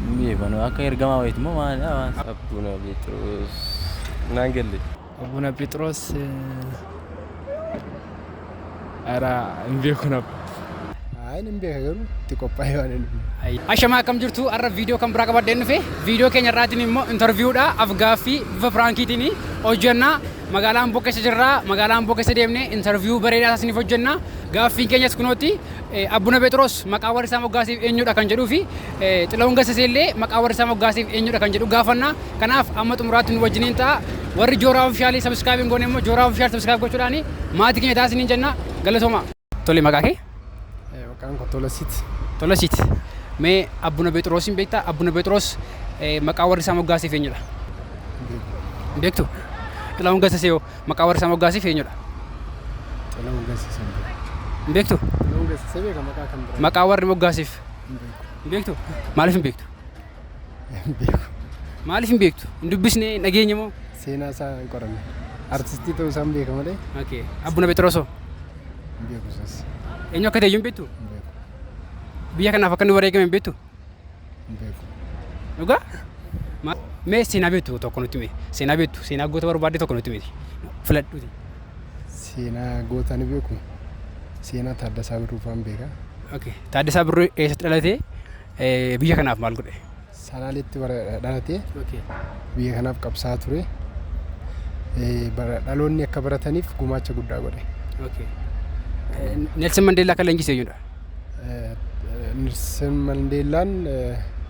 Hin beeku ani akka ergamaa wayiiti moo maali waan. Abbuuna Pheexiroos naan galle. Abbuuna Pheexiroos ara hin beeku nab. Ayi hin beeka garuu itti qophaa'ee waan hin dhufne. Ashamaa akkam jirtu har'a viidiyoo kan biraa qabadheen dhufe viidiyoo keenya irraatiin immoo intarviiwudha afgaaffii bifa piraankiitiin hojjenna magaalaa Amboo keessa jirra magaalaa Amboo keessa deemnee intarviiwuu bareedaa isiniif hojjenna gaaffiin keenyas kunooti Abbuna Pheexiroos maqaa warri isaa moggaasiif eenyudha kan jedhuu fi Xilahun Gassasee illee maqaa warri isaa moggaasiif eenyudha kan jedhu gaafanna. Kanaaf amma xumuraatti nu wajjiniin ta'a. Warri Jooraa Ofishaalii sabiskiraayib hin goone immoo Jooraa Ofishaal sabiskiraayib gochuudhaan maatii keenya ta'a isiniin jenna. Galatoomaa. Tole maqaa kee? Maqaan koo Tolasiit. Tolasiit. Mee Abbuna Pheexiroos hin beektaa? Abbuna Pheexiroos maqaa warri isaa moggaasiif eenyudha? Hin beektu? Xilahun Gassasee hoo? Maqaa warri isaa moggaasiif eenyudha? Xilahun Gassisa hin beeku. Hin beektu? Xilahun Gassisa beeka maqaa kan biraa. Maqaa warri moggaasiif Hin beeku. hin beektu? Maaliif hin beektu? Hin beeku. Maaliif hin beektu? Hin dubbisne, hin dhageenye moo? Seenaa isaa hin qoranne. Artistii ta'uu isaa hin beeka malee Okay. Abbuna Phexrosoo. hin beeku isas. Eenyu akka ta'e iyyuu hin beektu? Hin beeku. Biyya kanaaf akka inni wareegame hin beektu? hin beeku. Dhugaa? Ma- Mee seenaa beektu tokko nutti himi. Seenaa beektu, seenaa goota barbaadde tokko nutti himi. Filadhuuti. Seenaa goota ni beeku. Seenaa Taaddasaa Birruu fa'aan beeka. Okay. Taaddasaa Birruu eessatti dhalatee eh, biyya kanaaf maal godhe? Salaaleetti bara dhalatee Okay. biyya kanaaf qabsaa ture. Eh, bara- Dhaloonni akka barataniif gumaacha guddaa godhe. Okay. Eh, Nelson Mandela kan leenjise eenyudha? Nelson Mandeellaan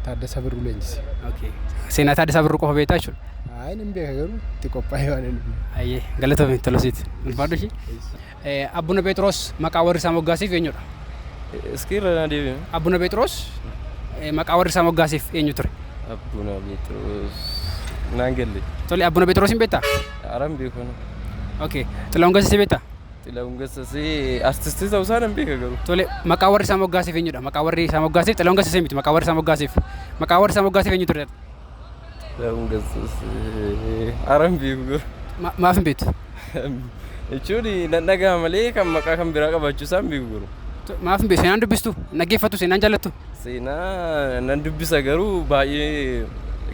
Taaddasa Birruu leenjise. Okay. Seenaa Taaddasaa Birruu qofa beektaa jechuudha. Ayi nan beeka garuu itti qophaa'ee waan hin Ayyee galatoomi tolosiiti. Ulfaadhu ishii. Abbuna Pheexiroos maqaa warri isaa moggaasiif eenyudha? Iskii irra na deebiin. Abbuna Pheexiroos eh, maqaa warri isaa moggaasiif eenyu ture? Abbuna Pheexiroos. Naan galle. Tole Abbuna Pheexiroos hin beektaa? Aran beekun. Okay. Xilahuun Gassisee beektaa? Xilahun Gassasee artistii ta'uu isaa nan beeka garuu. Tole maqaa warri isaa moggaaseef eenyudha? Maqaa warri isaa moggaaseef Xilahun Gassasee miti maqaa warri isaa moggaaseef. Maqaa warri isaa moggaaseef eenyu ture? Xilahun Gassasee aran beeku garuu. Ma- Maaf hin beektu? Jechuun nan dhaga'a malee kan maqaa kan biraa qabaachuu isaa hin beeku garuu. To- Maaf hin beektu? Seenaan dubbistu? Dhaggeeffattu? Seenaan jaallattu? Seenaa nan dubbisa garuu baay'ee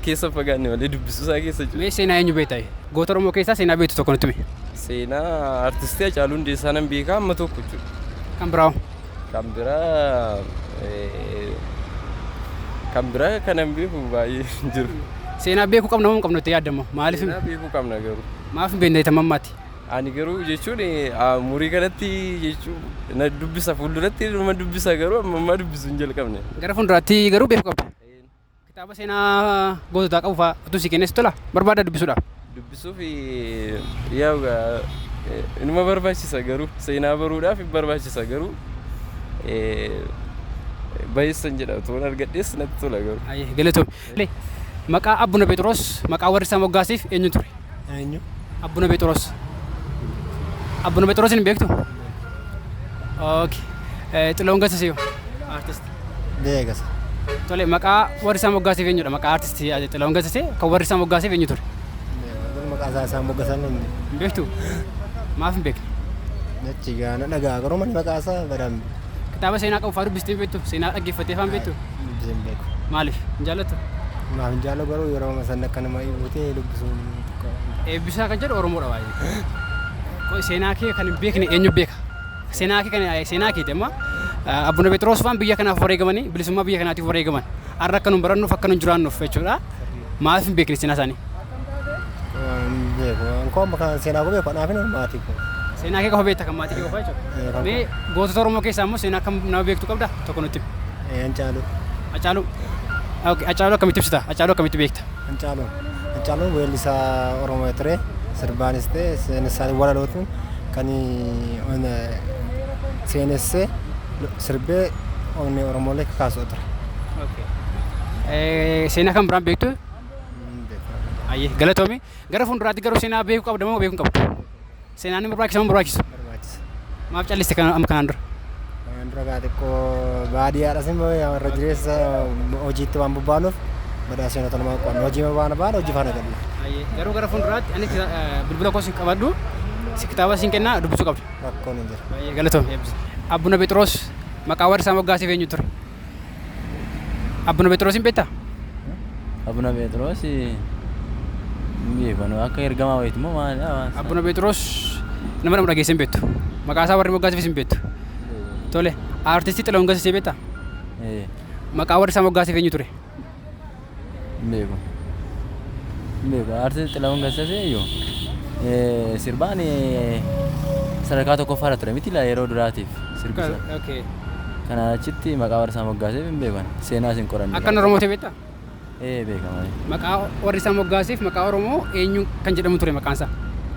keessa hin fagaanne malee dubbisuu isaa keessa jira. Mee seenaa eenyu beekta? Goota Oromoo keessaa seenaa beektu tokko nutti himi. Seenaa artistii Hacaaluu Hundeessaa nan beeka amma tokko jechuudha. Kan biraa hoo? Kan biraa eh, kan biraa kanan beeku baay'ee hin jiru. Seenaa beekuu qabna moo hin qabnu itti yaadda immoo? Maaliif Seenaa beekuu qabna garuu. maaf hin beekne tamammaatti? Ani garuu jechuun umurii kanatti jechuun na dubbisa fuulduratti nama dubbisa garuu amma ammaa dubbisu hin jalqabne. Gara fuulduraatti garuu beeku qabda. Kitaaba seenaa goototaa qabu fa'aa utuu si kennes tola barbaada dubbisuudhaaf. Dubbisuuf yaa inuma barbaachisa garuu seenaa baruudhaaf hin barbaachisa garuu bayeessan jedha utuu argadhees natti tola garuu. Ayyee galatoom. Tole, maqaa Abbuna Pheexiroos maqaa warri isaa moggaasiif eenyu ture? Eenyu? Abbuna Pheexiroos. Abbuna Pheexiroosiin hin beektu? Okay. Eh, Xilahuun Gassisee hoo? Artist. Beekasa. Tole, maqaa warri isaa moggaasiif eenyudha? Maqaa artist Xilahuun Gassisee kan warri isaa moggaasiif eenyu ture? Beekasa. Maqaa isaa isaan moggasan inni. Hin beektu? Maaf hin beekne? Nachi gaana dhagaa garuu maqaa isaa badaan Kitaaba seenaa qabu fa'aa dubbistee hin beektu? Seenaa dhaggeeffattee fa'aa hin beektu? Hin bitee hin beeku. Maaliif? Hin jaallattu? Maaf hin jaallu garuu yeroo amma sanni akka nama ibutee dubbisuun xiqqoo hin ta'a. Eebbisaa kan jedhu Oromoodha baay'ee. Qoy seenaa kee kan hin beekne eenyu beeka? Seenaa kee kan seenaa keeti amma ah, Abbuna Phexros faan biyya kanaaf wareegamanii bilisummaa biyya kanaatiif wareegaman. Har'a akka nun barannuuf akka nun jiraannuuf jechuudha. Maaf hin beekne seenaa isaanii? Koo kan seenaa gubee kan haafin maatii koo. Seenaa kee qofa beekta kan maatii kee qofa jechuudha. Mee gootota Oromoo keessaa immoo seenaa akkam nama beektu qabda tokko nutti himi. Hancaaluu. Hacaaluu. Okay, Hacaaluu akkamitti ibsita? Hacaaluu akkamitti beekta? Hancaaluu. Hancaaluun weellisaa Oromoo ture sirbaanis ta'e seenessaan walalootiin kan seenessee sirbee onnee Oromoolee kakaasu ture. Okay. Eh, Seenaa kan biraan beektu Ayyee galatoomi. Gara fuulduraatti garuu seenaa beekuu qabda moo beekuu hin qabdu? Seenaan ni barbaachisa moo hin barbaachisu? barbaachisa. Maaf calliste kan amma kanaan dura? Kanaan dura gaa xiqqoo baadiyyaadhas immoo yaa warra jireessa hojiitti waan bobbaanuuf badaa seenota namaa qo'anna. Hojii waan baan hojii faana galla. Ayyee garuu gara fuulduraatti ani kita- eh, bilbila koo si qabadhu si kitaaba siin kennaa dubbisuu qabda. Rakkoon hin jiru. Baay'ee galatoomi eebbisa. Abbuna Phexros maqaa warri isaa moggaasee eenyu ture? Abbuna Phexrosin beektaa? Abuna Pheexroos hin beekanu akka ergamaa wayiiti moo maalidha waan isaa? Abbuna Phexros nama nama dhageessee hin beektu. Maqaa isaa warri moggaasifis hin beektu. Tole, aartistii Xilahuun Gassisee beektaa? Ee, Maqaa warri isaa moggaasif eenyu ture? Hin beeku. Hin beeku. Artist Xilahun Gassasee iyyuu eh, sirbaan eh, sadarkaa tokkoffaarra ture miti laa yeroo duraatiif sirbisa. Ka- okay. Kanaan achitti maqaa warra isaa moggaaseef hin beekan. Seenaas hin qoranne. Akkan Oromoo ta'e beektaa? Eh, beekama. Maqaa warri isaa moggaaseef maqaa Oromoo eenyuun kan jedhamu ture maqaan isaa?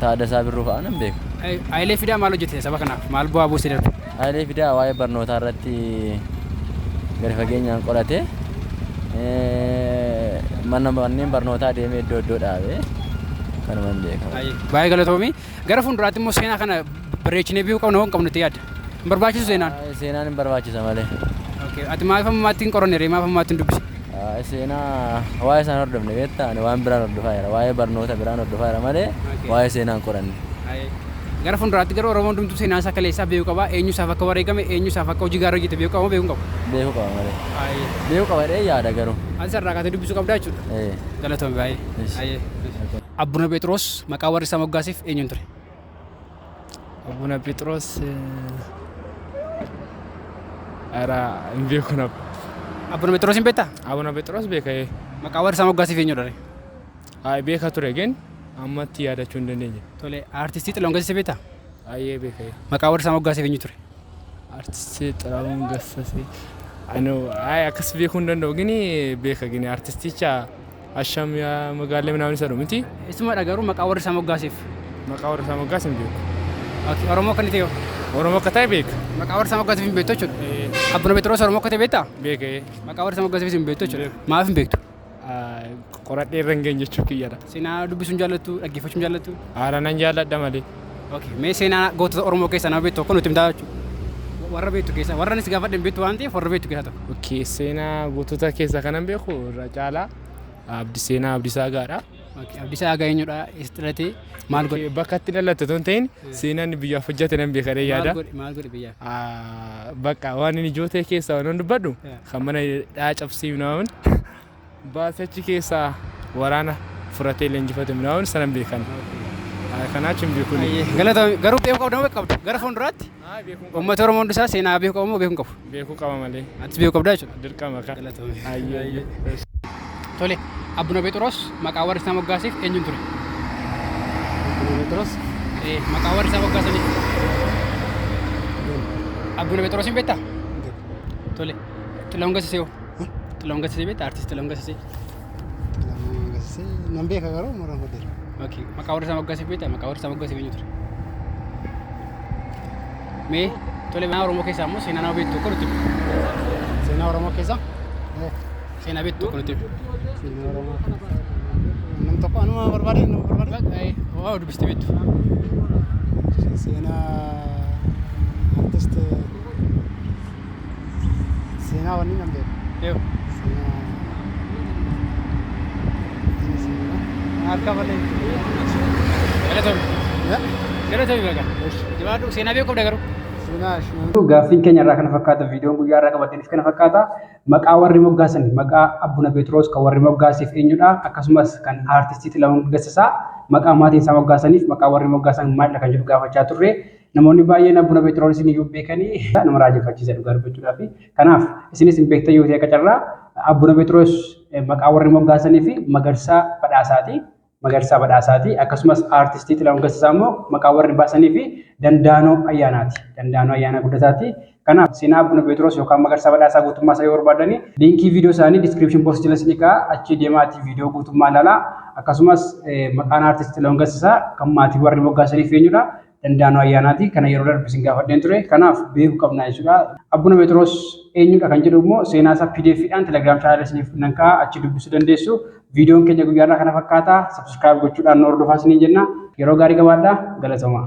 Taaddasaa Birruu fa'aa nan beeka. Hayilee Fidaa maal hojjete saba kanaaf? Maal bu'aa buusee darbe? Hayilee Fidaa waa'ee barnootaa irratti gadi fageenyaan qorate. Mana manneen barnootaa deemee iddoo iddoo dhaabe. Kanuman beeka. Baay'ee galatoomi. Gara fuulduraatti immoo seenaa kana bareechinee beekuu qabna moo hin qabnu itti yaadda? Hin barbaachisu seenaan? Aa, Seenaan hin barbaachisa malee. Okay. Ati maaf ammaatti hin qoranne ree? Maaf ammaatti hin dubbise? Aa, Seenaa waa'ee isaan hordofne beektaa ani waan biraan hordofaa jira waa'ee barnoota biraan hordofaa jira malee Okay. waa'ee seenaa hin qoranne. Gara fuulduraatti garuu Oromoon hundumtuu seenaa isaa kaleessaa beekuu qaba. Eenyu isaaf akka wareegame, eenyu isaaf akka hojii gaarii hojjete beekuu qaba moo beekuu hin qabu? Beekuu qaba malee. Aayee. Beekuu qaba jedhee yaada garuu. Ati sarraa kaatee dubbisuu qabdaa jechuudha. Ee. Galatoomi baay'ee. Yes. Aayee. Abbuna Pheexiroos maqaa warri isa moggaasiif eenyuun ture? Abbuna Pheexiroos ara hin beeku nab. Abbuna Pheexiroos hin beektaa? Abbuna Pheexiroos beeka ee. Maqaa warri isa moggaasiif eenyudha ree? Haay beeka ture gin ammatti yaadachuu hin dandeenye. Tole aartistii Xilahuun Gassisee beektaa? Haayee beeka ee. Maqaa warri isa moggaasiif eenyu ture? Aartistii Xilahuun Gassisee. Anoo haay akkas beekuu hin danda'u gini beeka gini aartisticha. Asham yaa magaallee minaamin isa dhumiti. Isuma dha garuu maqaa warri isaa moggaaseef. Maqaa warri isaa moggaase hin beeku. Okay, Oromoo akka inni ta'e hoo? Oromoo akka ta'e beeka. Maqaa warri isaa moggaaseef hin beektu jechuudha. Eh, Abbuna Phexros Oromoo akka ta'e beektaa? Beeka ee. Maqaa warri isaa moggaaseefis hin beektu jechuudha. Beeku. Maaf hin beektu? Ah, Qoradhee irra hin geenye jechuu kiyyadha. Seenaa dubbisuun jaallattu, dhaggeeffachuun jaallattu. Haala nan jaalladha malee. Okay. Mee seenaa gootota Oromoo keessaa nama beektu tokko nutti himtaa jechuudha. Warra beektu keessaa warra anis gaafadhe hin beektu waan ta'eef warra beektu keessaa tokko. Okay. Seenaa gootota keessaa kanan beeku irra caalaa abdi seenaa abdisaa gaadha. Okay. Abdisaa Agaa eenyudha? Eessatti dhalatee? Maal godhe? Bakka itti dhalatte otoo hin ta'in seenaan inni biyyaaf hojjate nan beeka jedhee Maal yaada. godhe? Maal godhe biyyaaf? Ah, Bakka waan inni ijoo ta'e keessaa waan dubbadhu Yeah. kan mana hidhaa cabsee hin waamin Baate achi keessaa waraana furatee leenjifate minaawoon sanan beekan. Kanaa achi hin beekun. Galatoomi. Garuu beekuu qabda moo qabdu? Gara fuulduraatti uummata Oromoo hundi isaa seenaa beekuu qaba moo beekuu hin qabu? Beekuu qaba malee. Atis beekuu qabdaa jechuudha. Dirqama kan. Galatoomi. Ayyee. Tole, Abbuna Phexros maqaa warri isaa moggaaseef eenyuun ture? Phexros. Ee, maqaa warri isaa moggaasaniif. Abbuna Phexrosiin beektaa? Tole, Xilahun Gassisee hoo? Xilahuun Gassisee beektaa? Artiist Xilahuun Gassisee. Xilahuun Gassisee nan beeka garuu mara godheera. Okay. Maqaa warra isaa moggaasee beektaa? Maqaa warra isaa moggaasee eenyu ture? Mee tole seenaa Oromoo keessaa immoo seenaa nama beektu tokko nutti himi. Seenaa Oromoo keessaa eh, Seenaa beektu tokko nutti himi. seenaa Oromoo keessaa nam tokko anuma barbaade nama barbaade Baqa, eh, Waa dubbistee beektu. seenaa artist Seenaa wanni nan beeku. Yoo. Seenaa. Inni seenaa. Harka malee. Galatoomii. Ya? Galatoomii baga. Jabaadhu seenaa beekuu qabda garuu. Seenaa shinaa. Gaaffiin keenya irraa kana fakkaata viidiyoon guyyaa irraa qabataniif kana fakkaata. Maqaa warri moggaasan maqaa Abbuna Pheexiroos kan warri moggaasiif eenyudha akkasumas kan aartistii Xilahuun Gassisaa maqaa maatiin isaa moggaasaniif maqaa warri moggaasan maalidha kan jedhu gaafachaa turre. Namoonni baay'een Abuna Phexros iyyuu beekanii nama raajeffachiisa dhugaa dubbachuudhaaf. Kanaaf isinis hin beektan yoo ta'e akka carraa Abuna Phexros maqaa warri moggaasanii fi Magarsaa Badhaasaati. Magarsaa Badhaasaati. Akkasumas aartistii Xilahuun Gassisaa immoo maqaa warri baasanii fi Dandaanoo Ayyaanaati. Dandaanoo Ayyaanaa Guddataati. Kanaaf seenaa Abuna Pheexiroos yookaan Magarsaa Badhaasaa guutummaa isaa yoo barbaadani liinkii viidiyoo isaanii description box jala isinii ka'a achii deemaatii viidiyoo guutummaa ilaalaa akkasumas maqaan aartist Xilahuun Gassisaa kan maatii warri moggaasaniif eenyudha Dandaanoo Ayyaanaati kana yeroo darbe isin gaafadheen ture kanaaf beeku qabna jechuudha Abuna Pheexiroos eenyudha kan jedhu immoo seenaa isaa pdf dhaan telegram channel isiniif nan ka'a achi dubbisuu dandeessu viidiyoon keenya guyyaarraa kana fakkaata subscribe gochuudhaan nu hordofaa isiniin jenna yeroo gaarii qabaadhaa galatomaa.